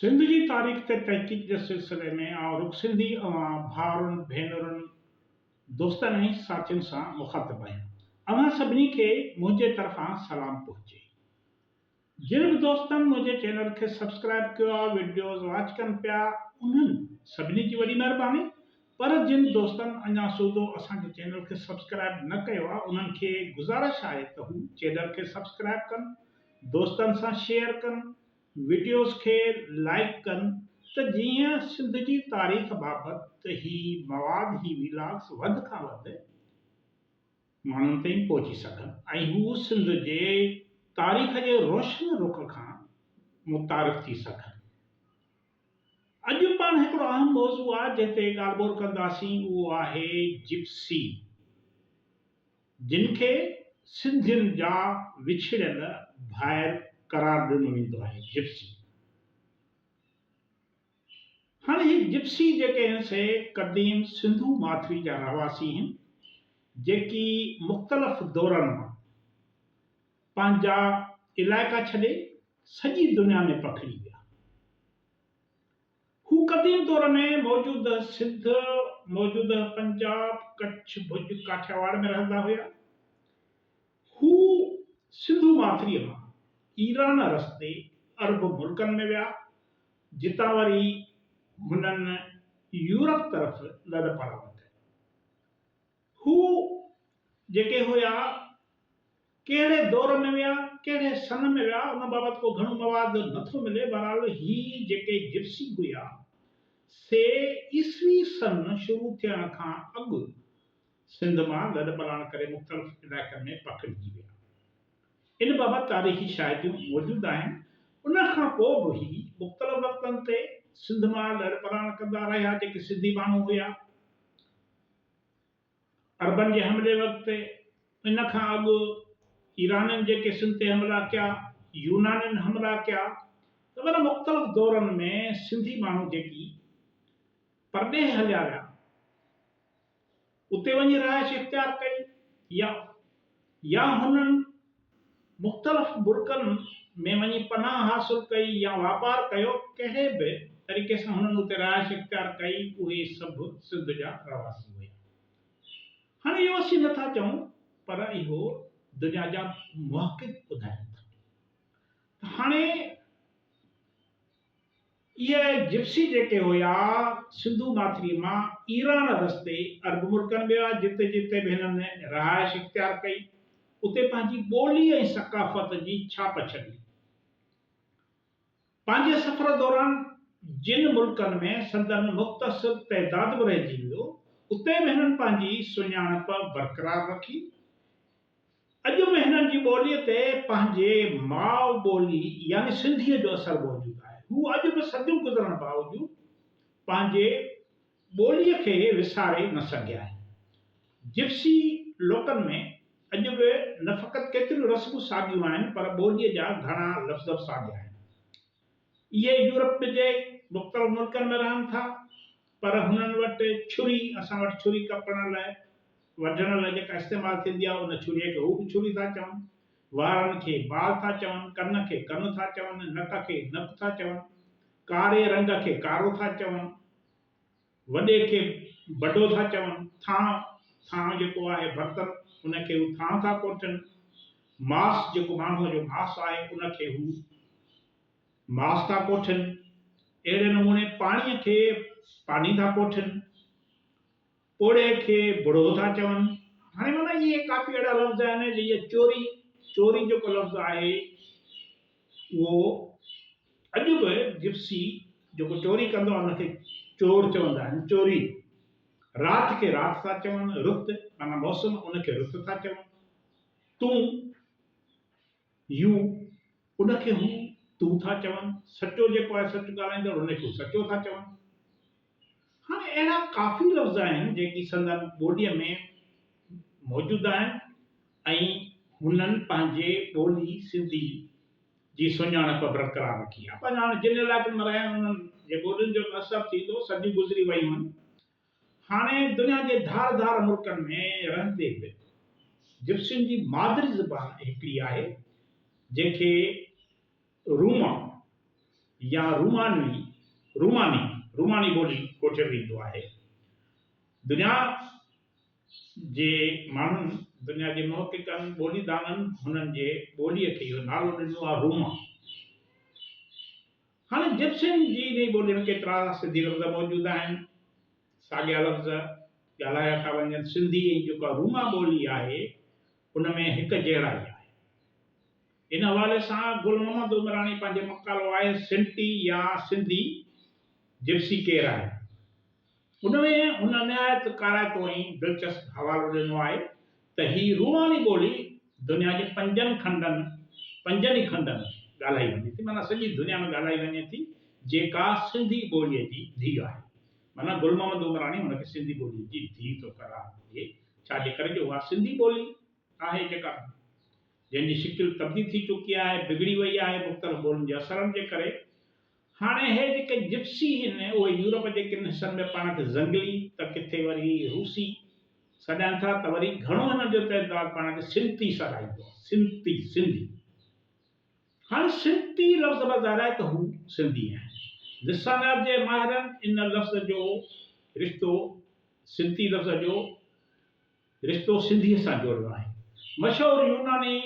سنڌ جي تاريخ تي تحقيق جي سلسلي ۾ آئون رڳ سنڌي اوهان ڀائرن، ڀينرن، دوستن ۽ ساٿين سان مخاطب آهيان. اوهان سڀني کي منهنجي طرفان سلام پهچي. جن به دوستن منهنجي چينل کي سبسڪرائيب ڪيو آهي، وڊيوز واچ ڪن پيا، انهن سڀني جي وڏي مهرباني. پر جن دوستن اڃا سوڌو اسان جي چينل کي سبسڪرائيب نه ڪيو آهي، انهن کي گذارش آهي ته هو چينل کي سبسڪرائيب ڪن دوستن سان شيئر ڪن، وڊيوز کي لائيڪ ڪن ته جيئن سنڌ جي تاريخ بابت هي مواد هي ويلاگز وڌ کان وڌ ماڻهن تائين پهچي سگهن ۽ هو سنڌ جي تاريخ جي روشن رخ کان متعارف ٿي سگهن. اڄ پاڻ هڪڙو اهم موضوع آ جنهن تي ڳالهه ٻولهه ڪنداسين اهو آهي جپسي. جن کي سنڌين جا وڇڙيل ڀائر قرار ڏنو ويندو آهي، جپسي. هاڻ هي جپسي جيڪي آهن سي قديم سنڌو ماٿري جا رهواسي آهن جيڪي مختلف دورن مان پنهنجا علائقا ڇڏي سڄي دنيا ۾ پکڙي ويا. هو قديم دور ۾ موجوده سنڌ، موجوده پنجاب، ڪڇ، ڀڄ، ڪاٺياواڙ ۾ رهندا هيا. هو سنڌو ماٿريء مان ايران رستي عرب ملڪن ۾ ويا، جتان وري هنن يورپ طرف لڏپلاڻ ڪئي. هو جيڪي هيا، ڪهڙي دور ۾ ويا، ڪهڙي سن ۾ ويا، ان بابت ڪو گهڻو مواد نه ٿو ملي، بهرحال هي جيڪي جپسي هيا، سي عيسوي سن شروع ٿيڻ کان اڳ سنڌ مان لڏپلاڻ ڪري مختلف علائقن ۾ پکڙجي ويا. ان بابت تاريخي شاهديون موجود آهن. ان کان پوء به هي مختلف وقتن تي سنڌ مان لڏپلاڻ ڪندا رهيا، جيڪي سنڌي ماڻهو هيا، عربن جي حملي وقت ان کان اڳ ايرانين جيڪي سنڌ تي حملا ڪيا، يونانين حملا ڪيا ته انهن مختلف دورن ۾ سنڌي ماڻهو جيڪي پرڏيهه هليا ويا، اتي وڃي رهائش اختيار ڪئي يا يا هنن مختلف ملڪن ۾ وڃي پناهه حاصل ڪئي يا واپار ڪيو، ڪهڙي به طريقي سان هنن اتي رهائش اختيار ڪئي، اهي سڀ سنڌ جا رهواسي هيا. هاڻي اهو اسين نه ٿا چئون پر اهو دنيا جا محقق ٻڌائين ٿا ته هاڻي اهي جپسي جيڪي هيا سنڌو ماٿريء مان ايران رستي عرب ملڪن ۾ ويا جتي جتي به هنن رهائش اختيار ڪئي اتي پنهنجي ٻولي ۽ ثقافت جي ڇاپ ڇڏي. پنهنجي سفر دوران جن ملڪن ۾ سندن مختصر تعداد به رهجي ويو اتي به هنن پنهنجي سڃاڻپ برقرار رکي. اڄ به هنن جي ٻوليء تي پنهنجي ماء ٻولي يعني سنڌيء جو اثر موجود آهي. هو اڄ به صديون گذرڻ باوجود پنهنجي ٻوليء کي وساري نه سگهيا آهن. جپسي لوڪن ۾ اڄ به نه فقط ڪيتريون رسمون ساديون آهن پر ٻوليء جا گهڻا لفظ به ساڳيا آهن. اهي يورپ جي مختلف ملڪن ۾ رهن ٿا پر هنن وٽ ڇري اسان وٽ ڇري ڪپڻ لاء وڍڻ لاء جيڪا استعمال ٿيندي آهي ان ڇري کي هو به ڇري ٿا چون. وارن کي بال ٿا چون، ڪن کي ڪن ٿا چون، نڪ کي نڪ ٿا چون، ڪاري رنگ کي ڪارو ٿا چون. وڏي کي بڊو ٿا چون، ٿانء، ٿانء جيڪو آهي برتن، ان کي هو ٿانء ٿا ڪوٺين، ماس، جيڪو ماڻهوء جو ماس آهي، ان کي هو ماس ٿا ڪوٺين. اهڙي نموني پاڻيء کي پاني ٿا ڪوٺين. پوڙهي کي بڙهو ٿا چون. هاڻي معنيٰ اهي ڪافي اهڙا لفظ آهن، جيئن چوري، چوري جيڪو لفظ آهي، اهو اڄ به جپسي جيڪو چوري ڪندو آهي ان کي چور چوندا آهن، چوري. رات کي رات ٿا چون، رت معنيٰ موسم ان کي رت ٿا چون. تون، يو، ان کي هو، تو ٿا چون. سچو جيڪو آهي سچ ڳالهائيندڙ ان کي هو سچو ٿا چون. هاڻي اهڙا ڪافي لفظ آهن جيڪي سندن ٻوليء ۾ موجود آهن ۽ هنن پنهنجي ٻولي سنڌي جي سڃاڻپ برقرار رکي آهي پر هاڻي جن علائقن ۾ رهيا آهيون انهن جي ٻولين جو ته اثر ٿيندو صديون گذري ويون آهن هاڻي دنيا جي ڌار ڌار ملڪن ۾ رهندي به جپسين جي مادري زبان هڪڙي آهي جنهن کي روما يا رومانوي، روماني، روماني ٻولي ڪوٺيو ويندو آهي. دنيا جي ماڻهن، دنيا جي محققن، ٻولي دانن هنن جي ٻوليء کي اهو نالو ڏنو آهي روما. هاڻي جپسين جي انهيء ٻوليء ۾ ڪيترا سنڌي لفظ موجود آهن، ساڳيا لفظ ڳالهايا ٿا وڃن، سنڌي ۽ جيڪا روما ٻولي آهي ان ۾ هڪجهڙائي آهي. ان حوالي سان گل محمد عمراڻي پنهنجي مقالو آهي سنٽي يا سنڌي جپسي ڪير آهي؟ ان ۾ هن نهايت ڪارائتو ۽ دلچسپ حوالو ڏنو آهي ته هي روماني ٻولي دنيا جي پنجن کنڊن، پنجن ئي کنڊن، ڳالهائي وڃي ٿي معنيٰ سڄي دنيا ۾ ڳالهائي وڃي ٿي جيڪا سنڌي ٻوليء جي ڌيء آهي معنيٰ گل محمد عمراڻي هن کي سنڌي ٻوليء جي ڌيء ٿو قرار ڏي ڇا جي ڪري جو اها سنڌي ٻولي آهي جيڪا جنهن جي شڪل تبديل ٿي چڪي آهي، بگڙي وئي آهي مختلف ٻولين جي اثرن جي ڪري. هاڻي اهي جيڪي جپسي هن اهي يورپ جي ڪن حصن ۾ پاڻ کي زنگلي ته ڪٿي وري روسي سڏائن ٿا ته وري گهڻو هنن جو تعداد پاڻ کي سنتي سڏائيندو آهي، سنتي، سنڌي. هاڻي سنتي لفظ به ظاهر آهي ته هو سنڌي آهن. لسانيات جي ماهرن ان لفظ جو رشتو سنتي لفظ جو. رشتو سنڌيء سان جوڙيو آهي. مشهور يوناني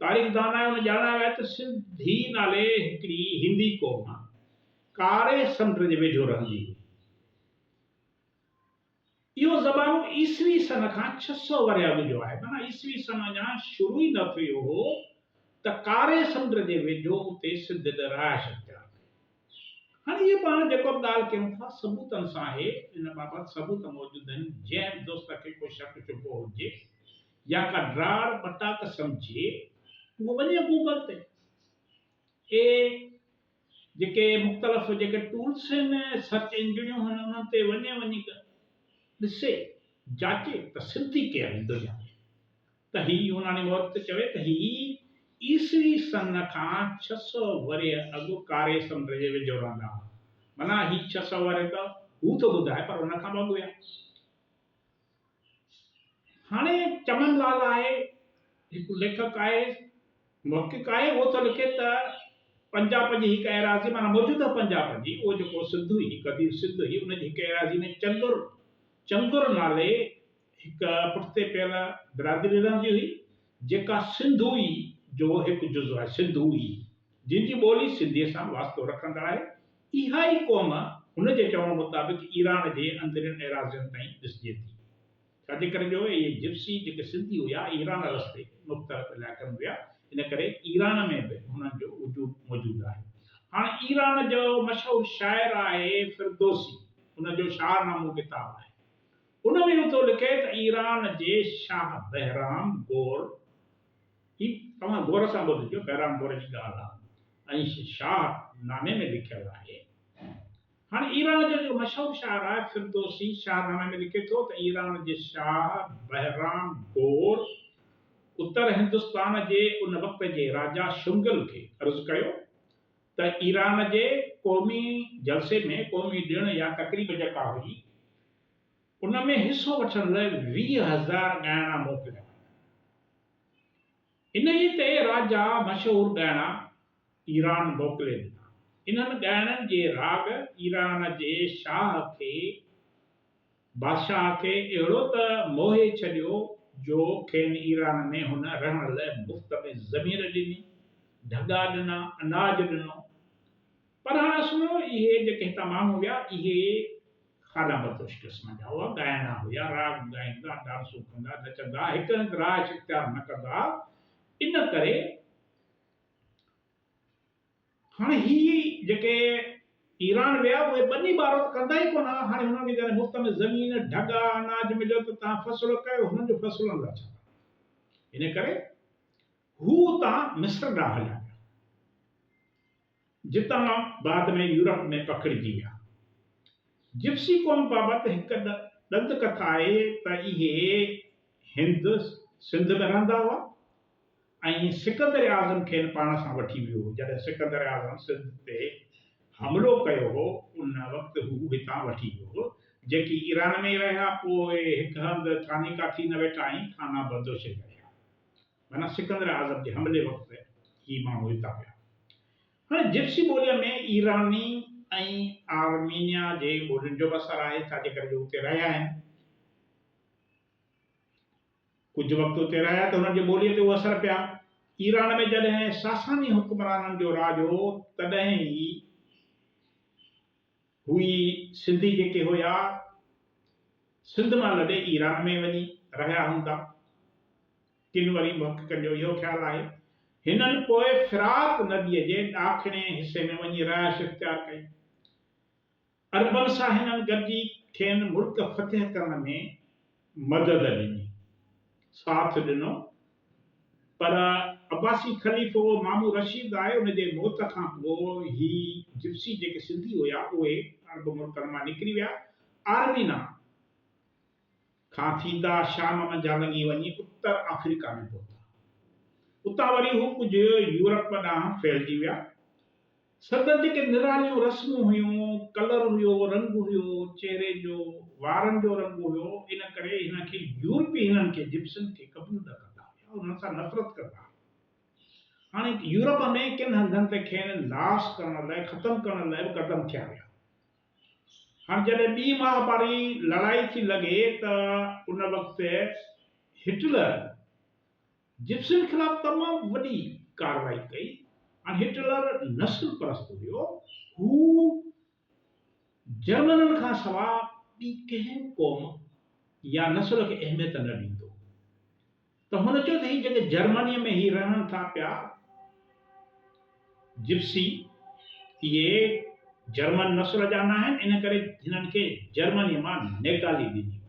تاريخ دانائن ڄاڻايو آهي ته سنڌي نالي هڪڙي هندي قوم ڪاري سمنڊ جي ويجهو رهندي هئي. اهو زمانو عيسوي سن کان ڇهه سؤ ورهيه اڳ جو آهي، معنيٰ عيسوي سن اڃا شروع ئي نه ٿيو هو ته ڪاري سمنڊ جي ويجهو اتي سنڌين رهائش اختيار ڪئي. هاڻي هيء پاڻ جيڪو به ڳالهه ڪيون ٿا، ثبوتن سان آهي، ان بابت ثبوت موجود آهن، جنهن به دوست کي ڪو شڪ شبهو هجي يا ڪا ڊاڙ ٻٽاڪ سمجهي، اهو وڃي گوگل تي اهي جيڪي مختلف جيڪي ٽولس آهن، سرچ انجڻيون آهن، انهن تي وڃي، وڃي ڏسي، جاچي ته سنڌي ڪير هوندو يا نه. ته هي يوناني مورخ چوي ته هي عيسوي سن کان ڇهه سؤ ورهيه اڳ ڪاري سمنڊ جي ويجهو رهندا هئا. معنيٰ هي ڇهه سؤ ورهيه ته هو ٿو ٻڌائي پر ان کان به اڳ هيا. هاڻي چمن لال آهي، هڪ ليکڪ آهي، محقق آهي، اهو ٿو لکي ته پنجاب جي هڪ ايراضي معنيٰ موجوده پنجاب جي اهو جيڪو سنڌ هئي، قديم سنڌ هئي، ان جي هڪ ايراضي ۾ چندر، چنگر نالي، هڪ پٺتي پيل برادري رهندي هئي، جيڪا سنڌوئي جو هڪ جزو آهي، سنڌوئي، جن جي ٻولي سنڌيء سان واسطو رکندڙ آهي. اها ئي قوم، هن جي چوڻ مطابق، ايران جي اندرين ايراضين تائين ڏسجي ٿي. ڇاجي ڪري جو اهي جپسي، جيڪي سنڌي هيا، ايران رستي مختلف علائقن ۾ ويا، ان ڪري ايران ۾ به هنن جو وجود موجود آهي. هاڻ ايران جو مشهور شاعر آهي فردوسي، هن جو شاهنامو ڪتاب آهي. ان ۾ هو ٿو لکي ته ايران جي شاهه بهرام گور، هي توهان غور سان ٻڌجو، بهرام گور جي ڳالهه آهي ۽ شاهه نامي ۾ لکيل آهي. هاڻ ايران جو جيڪو مشهور شاعر آهي فردوسي، شاهه نامي ۾ لکي ٿو ته ايران جي شاهه بهرام گور اتر هندستان جي ان وقت جي راجا شنگل کي عرض ڪيو ته ايران جي قومي جلسي ۾ قومي ڏڻ يا تقريب جيڪا هئي، ان ۾ حصو وٺڻ لاء ويهه هزار ڳائڻا موڪليا ويا. انهيء تي راجا مشهور ڳائڻا ايران موڪلي ڏنا. انهن ڳائڻن جي راڳ ايران جي شاهه کي، بادشاهه کي، اهڙو ته موهي ڇڏيو جو کين ايران ۾ هن رهڻ لاء مفت ۾ زمين ڏني، ڍڳا ڏنا، اناج ڏنو. پر هاڻ اسنو اهي جيڪي هتان ماڻهو ويا اهي کاڏا بدوش قسم جا هئا، ڳائڻا هيا، راڳ ڳائيندا، ڊانسون ڪندا، نچندا، هڪ هنڌ رهائش اختيار نه ڪندا ان ڪري هاڻ هي جيڪي ايران ويا اهي ٻني ٻارو ته ڪندا ئي ڪونه ها، هاڻي هنن کي جڏهن مفت ۾ زمين، ڍڳا، اناج مليو ته تان فصل ڪيو هنن جو فصلن لاء ڇا ڪندو؟ ان ڪري هو اتان مصر ڏانهن هليا ويا. جتان بعد ۾ يورپ ۾ پکڙجي ويا. جپسي قوم بابت هڪ ڏند ڪٿا آهي ته اهي هند سنڌ ۾ رهندا هئا ۽ سڪندر اعظم کين پاڻ سان وٺي ويو هو. جڏهن سڪندر اعظم سنڌ تي حملو ڪيو هو ان وقت هو هتان وٺي ويو هو. جيڪي ايران ۾ رهيا پوء هڪ هنڌ ٿاني ڪاٿي نه ويٺا ۽ ٿانا بدوشي ۾ رهيا. معنيٰ سڪندر اعظم جي حملي وقت هي ماڻهو هتان ويا. هاڻي جپسي ٻوليء ۾ ايراني ۽ آرمينيا جي ٻولين جو به اثر آهي، ڇا جي ڪري جو اتي رهيا آهن. ڪجهه وقت اتي رهيا ته هنن جي ٻوليء تي اهو اثر پيا. ايران ۾ جڏهن ساساني حڪمرانن جو راڄ هو، تڏهن ئي. هي سنڌي جيڪي هيا سنڌ مان لڏي ايران ۾ وڃي رهيا هوندا. ڪن وري محققن جو اهو خيال آهي هنن پوء فرات نديء جي ڏاکڻئين حصي ۾ وڃي رهائش اختيار ڪئي. عربن سان هنن گڏجي کين ملڪ فتح ڪرڻ ۾ مدد ڏني، ساٿ ڏنو پر عباسي خليفو مامون رشيد آء ان جي موت کان پوء هي جپسي جيڪي سنڌي هيا اهي عرب ملڪن مان نڪري ويا آرمينا کان ٿيندا شام منجهان لنگهي وڃي اتر آفريڪا ۾ پهتا اتان وري هو ڪجهه يورپ ڏانهن ڦهلجي ويا. سندن جيڪي نراليون رسمون هيون، ڪلر هيو، رنگ هيو، چهري جو، وارن جو رنگ هيو، ان ڪري هن کي يورپي هنن کي، جپسين کي، قبول نه ڪندا هيا ۽ هنن سان نفرت ڪندا هيا. هاڻي يورپ ۾ ڪن هنڌن تي کين ناس ڪرڻ لاء، ختم ڪرڻ لاء به قدم کنيا ويا. هاڻي جڏهن ٻي مهاڀاري لڙائي ٿي لڳي ته ان وقت هٽلر، جپسين خلاف تمام وڏي ڪارروائي ڪئي ۽ هٽلر نسل پرست هيو، هو جرمنن کان سواء ٻي ڪنهن قوم يا نسل کي اهميت نه ڏيندو ته هن چيو ته هي جيڪي جرمنيء ۾ هي رهن ٿا پيا جپسي اهي جرمن نسل جا ناهن ان ڪري هنن کي جرمنيء مان نيڪالي ڏني وڃي.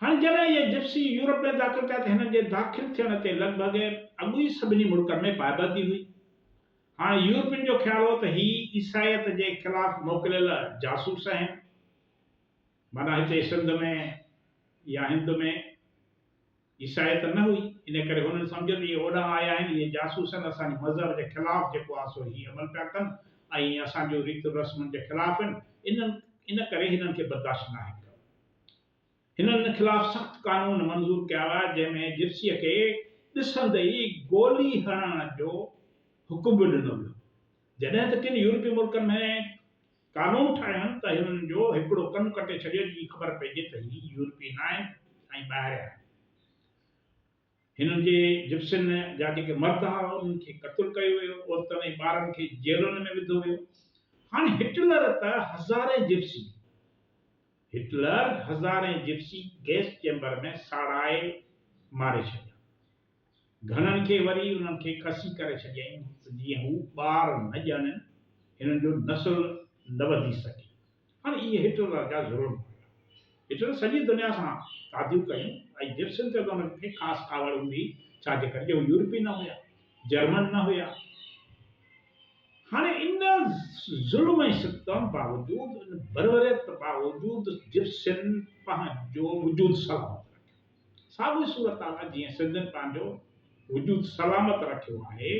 هاڻ جڏهن اهي جپسي يورپ ۾ داخل ٿيا ته هنن جي داخل ٿيڻ تي لڳ ڀڳ اڳ ئي سڀني ملڪن ۾ پائبندي هئي. هاڻ يورپين جو خيال هو ته هي عيسائيت جي خلاف موڪليل جاسوس آهن. معنيٰ هتي سنڌ ۾ يا هند ۾. عيسائي ته نه هئي، ان ڪري هنن سمجهيو ته اهي اوڏانهن آيا آهن، اهي جاسوس آهن، اسان جي مذهب جي خلاف جيڪو آهي سو هي عمل پيا ڪن ۽ اسان جون ريتون رسمن جي خلاف آهن، انهن ان ڪري هنن کي برداشت ناهي ڪيو. هنن ان خلاف سخت قانون منظور ڪيا هئا، جنهن ۾ جپسيء کي ڏسندي ئي گولي هڻڻ جو حڪم به ڏنو ويو. جڏهن ته ڪن يورپي ملڪن ۾ قانون ٺاهيون ته هنن جو هڪڙو ڪن ڪٽي ڇڏيو جي خبر پئجي ته هي يورپي نه آهن ۽ ٻاهريان آهن. هنن جي جپسين جا جيڪي مرد ها انهن کي قتل ڪيو ويو، عورتن ۽ ٻارن کي جيلن ۾ وڌو ويو. هاڻ هٽلر ته هزارين جپسي هٽلر هزارين جپسي گئس چيمبر ۾ ساڙائي ماري ڇڏيا. گهڻن کي وري انهن کي کسي ڪري ڇڏيائين ته جيئن هو ٻار نه ڄاڻين، هنن جو نسل نه وڌي سگهي. هاڻي اهي هٽلر جا ظلم هيا. هٽلر سڄي دنيا سان تعديون ڪيون ۽ جپسين تي انهن کي خاص ڪاوڙ هوندي هئي، ڇا جي ڪري جو هو يورپي نه هيا، جرمن نه هيا. هاڻي ان ظلم ۽ ستم باوجود، ان بربريت باوجود جپسين پنهنجو وجود سلامت رکيو. ساڳيو صورتحال جيئن سندن پنهنجو وجود سلامت رکيو آهي،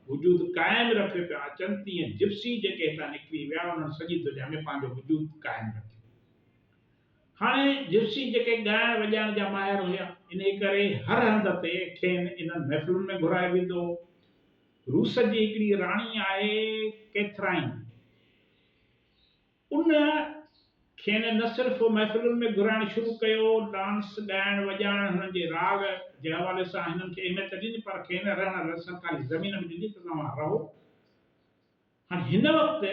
وجود قائم رکي پيا اچن، تيئن جپسي جيڪي هتان نڪري ويا انهن سڄي دنيا ۾ پنهنجو وجود قائم رکيو. هاڻي جپسي جيڪي ڳائڻ وڄائڻ جا ماهر هيا، انهي ڪري هر هنڌ تي کين انهن محفلن ۾ گهرايو ويندو هو. روس جي هڪڙي راڻي آهي ڪيٿرائين. ان کين نه صرف محفلن ۾ گهرائڻ شروع ڪيو، ڊانس، ڳائڻ، وڄائڻ، هنن جي راڳ جي حوالي سان هنن کي اهميت ڏني پر کين رهڻ لاء سرڪاري زمين به ڏني ته توهان رهو. هاڻ هن وقت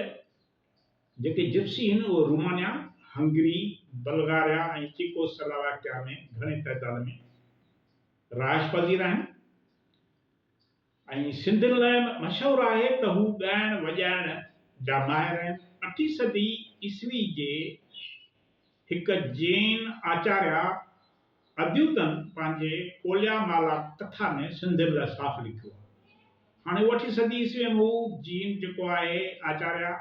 جيڪي جپسي هن اهي Romania, Hungary, Bulgaria ۽ Czechoslovakia ۾ گهڻي تعداد ۾ رهائش پذير آهن. ۽ سنڌين لاء مشهور آهي ته هو ڳائڻ وڄائڻ جا ماهر آهن. اٺين صدي عيسوي جي هڪ جين آچاريا اديوتن پنهنجي ڪوليا مالا ڪٿا ۾ سنڌين لاء صاف لکيو آهي. هاڻي اهو اٺين صدي عيسوي ۾ هو جين جيڪو آهي آچاريا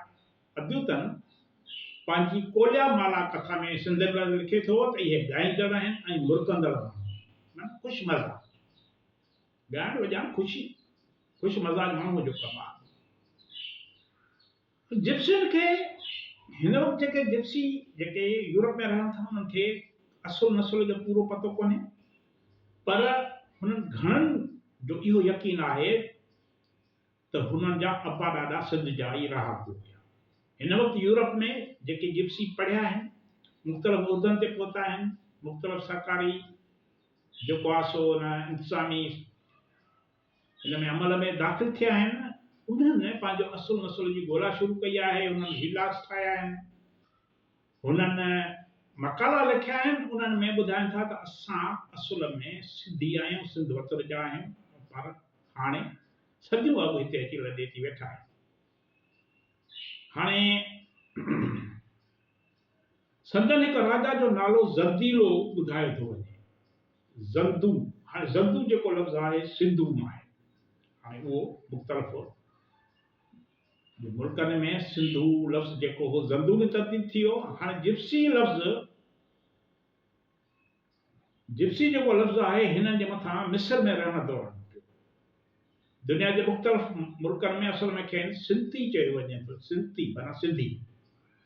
اديوتن پنهنجي ڪوليا مالا ڪٿا ۾ سنڌين لاء لکي ٿو ته اهي ڳائيندڙ آهن ۽ مرڪندڙ ماڻهو آهن معنيٰ خوش مزاج. ڳائڻ وڄائڻ خوشي خوش مزاج ماڻهوء جو ڪم آهي. جپسين کي هن وقت جيڪي جپسي جيڪي يورپ ۾ رهن ٿا انهن کي اصل نسل جو پورو پتو ڪونهي پر هنن گهڻن جو اهو يقين آهي ته هنن جا ابا ڏاڏا سنڌ جا ئي رهاڪو هيا. هن وقت يورپ ۾ جيڪي جپسي پڙهيا آهن، مختلف عهدن تي پهتا آهن، مختلف سرڪاري جيڪو آ سو ان انتظامي ان ۾ عمل ۾ داخل ٿيا آهن، انهن پنهنجو اصل نسل جي ڳولا شروع ڪئي آهي، انهن ويلاگز ٺاهيا آهن، هنن مقالا لکيا آهن، انهن ۾ ٻڌائن ٿا ته اسان اصل ۾ سنڌي آهيون، سنڌ وطن جا آهيون، پر هاڻي صديون اڳ هتي اچي لڏي ٿي ويٺا آهيون. هاڻي سندن هڪ راجا جو نالو زرديلو ٻڌايو ٿو وڃي. زردو، هاڻي زردو جيڪو لفظ آهي سنڌو مان آهي. هاڻي اهو مختلف هو. ملڪن ۾ سنڌو لفظ جيڪو هو زردو ۾ تبديل ٿي ويو. هاڻي جپسي لفظ جپسي جيڪو لفظ آهي هنن جي مٿان مصر ۾ رهڻ دوران نڪتو. دنيا جي مختلف ملڪن ۾ اصل ۾ کين سنتي چيو وڃي ٿو، سنتي معنيٰ سنڌي.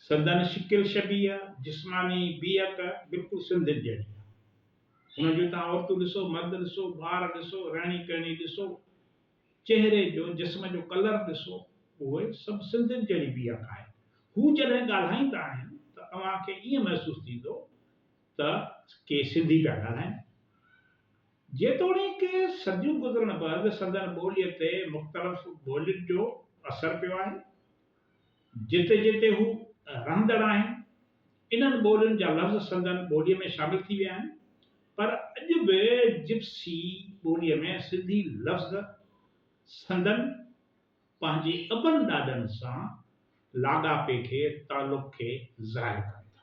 سندن شڪل شبيهه، جسماني بيهڪ بلڪل سنڌين جهڙي آهي. هنن جون توهان عورتون ڏسو، مرد ڏسو، ٻار ڏسو، رهڻي ڪهڻي ڏسو، چهري جو، جسم جو ڪلر ڏسو، اهي سڀ سنڌين جهڙي بيهڪ آهي. هو جڏهن ڳالهائيندا آهن ته اوهان کي ائين محسوس ٿيندو ته ڪي سنڌي پيا ڳالهائين. جيتوڻيڪ صديون گذرڻ بعد سندن ٻوليء تي مختلف ٻولين جو اثر پيو آهي. جتي جتي هو رهندڙ آهن، انهن ٻولين جا لفظ سندن ٻوليء ۾ شامل ٿي ويا آهن، پر اڄ به جپسي ٻوليء ۾ سنڌي لفظ سندن پنهنجي ابن ڏاڏن سان لاڳاپي کي، تعلق کي ظاهر ڪن ٿا.